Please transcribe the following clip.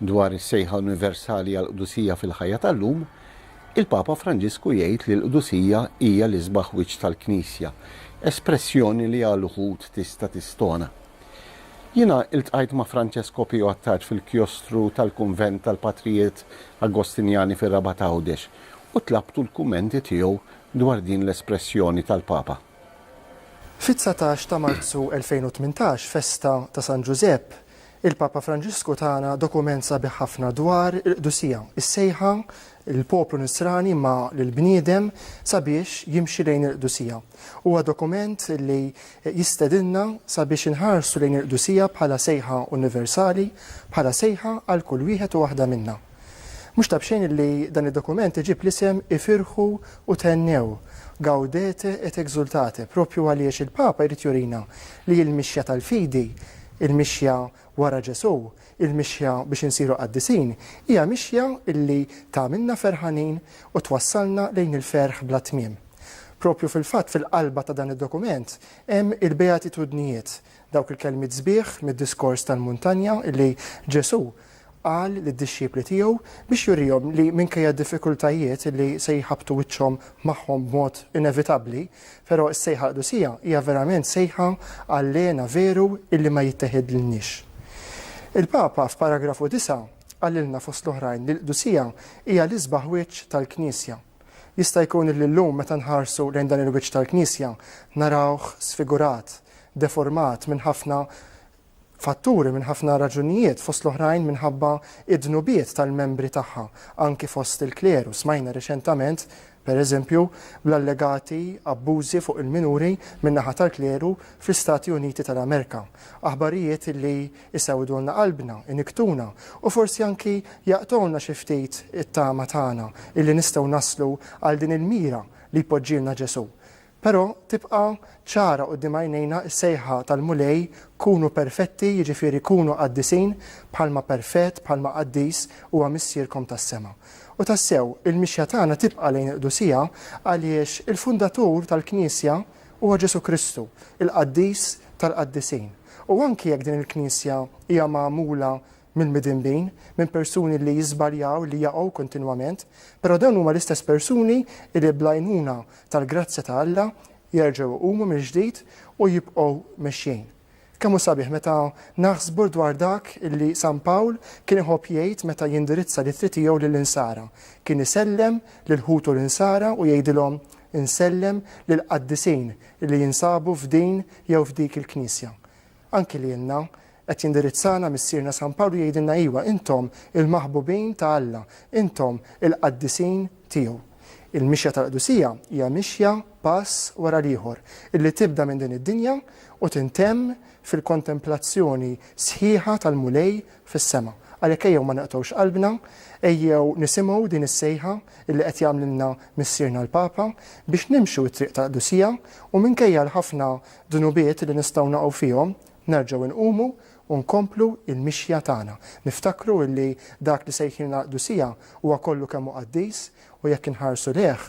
Dwar is-sejħa universali għall-qdusija fil-ħajja tal-lum, il-Papa Franġisku jgħid li l-qdusija hija l-isbaħ wiċċ tal-Knisja, espressjoni li għal uħud tista' tistona. Jiena iltqajt ma' Francesco Pio Attard fil-kjostru tal-kunvent tal-Patrijiet Agostinjani fir-Rabat Għawdex u tlabtu l-kummenti tiegħu dwar din l-espressjoni tal-Papa. Fit-dsatax ta' Marzu 2018, festa ta' San Ġużepp, Il-Papa Franġisku tana dokument sabiħ ħafna dwar il-qdusija, is-sejħa lill-poplu Nisrani imma lill-bniedem sabiex jimxi lejn il-qdusija. Huwa dokument li jistedinna sabiex inħarsu lejn il-qdusija bħala sejħa universali, bħala sejħa għal kull wieħed u waħda minna. Mhux ta' b'xejn li dan id-dokument iġib l-isem Ifirħu u Thennew, Gaudete et Exultate, proprju għaliex il-Papa jrid jurina li l-mixja tal-fidi, il-mixja wara Ġesù, il-mixja biex insiru qaddisin, hija mixja li tagħmilna ferħanin u twassalna lejn il-ferħ bla tmiem. Proprju fil-fatt fil-qalba ta' dan id-dokument hemm il-Beatitudnijiet, Dawk il-kelmiet sbieħ mid-diskors tal-muntanja li Ġesù qal lid-dixxipli tiegħu biex jurihom li minkejja d-diffikultajiet li se jħabbtu wiċċhom magħhom b'mod inevitabbli, però s-sejħa qdusija hija verament sejħa għal hena veru illi ma jitteħidlniex. Il-Papa f'paragrafu disa' qalilna fost l-oħrajn li l-qdusija hija l-isbaħ wiċċ tal-Knisja. Jista' jkun li llum meta nħarsu lejn dan il-wiċċ tal-Knisja narawh sfigurat, deformat minn ħafna fatturi, minn ħafna raġunijiet, fost l-oħrajn minħabba d-dnubiet tal-membri tagħha, anki fost il-kleru. Smajna riċentament, pereżempju, bl-allegati abbużi fuq il-minuri min-naħa tal-kleru fl-Istati Uniti tal-Amerika. Aħbarijiet li isewdulna qalbna, iniktuna, u forsi anki jaqtgħulna xi ftit it-tama tagħna illi nistgħu naslu għal din il-mira li jpoġġilna Ġesù. Però tibqa' ċara quddiem għajnejna s-sejħa tal-Mulej kunu perfetti, jiġifieri kunu qaddisin bħalma perfett, bħalma qaddis huwa Missierkom tas-sema. U tassew, il-mixja tagħna tibqa' lejn il-qdusija għaliex il-Fundatur tal-Knisja, Huwa Ġesù Kristu, il-Qaddis tal-Qaddisin. U anki jekk din il-Knisja hija magħmula minn midinbin, minn persuni li jiżbaljaw, li jaqgħu kontinwament, però dawn huma l-istess persuni li bl-għajnuna tal-grazzja ta' Alla jerġgħu jqumu mill-ġdid u jibqgħu mexjin. Kemm hu sabiħ meta naħsbu dwar dak li San Pawl kien iħobb jgħid meta jindirizza l-ittri tiegħu lill-insara. Kien isellem lil ħutu l-insara u jgħidilhom, Insellem lill-qaddisin li jinsabu f'din jew f'dik il-knisja. Anki lilna qed jindirizzana Missierna San Pawl u jgħidilna iwa, intom il-maħbubin ta' Alla, intom il-qaddisin tiegħu. Il-mixja tal-qdusija hija mixja pass wara l-ieħor, illi tibda minn din id-dinja u tintemm fil-kontemplazzjoni sħiħa tal-Mulej fis-sema. Għalhekk ejjew ma neqtgħux qalbna, ejjew nisimgħu din is-sejħa illi qed jagħmlilna Missierna l-Papa biex nimxu t-triq tal-qdusija u minkejja l-ħafna dnubiet li nistgħu naqgħu fihom, nerġgħu nqumu u nkomplu l-mixja tagħna, niftakru illi dak li sejħilna għall-qdusija huwa kollu kemm hu qaddis u jekk inħarsu lejh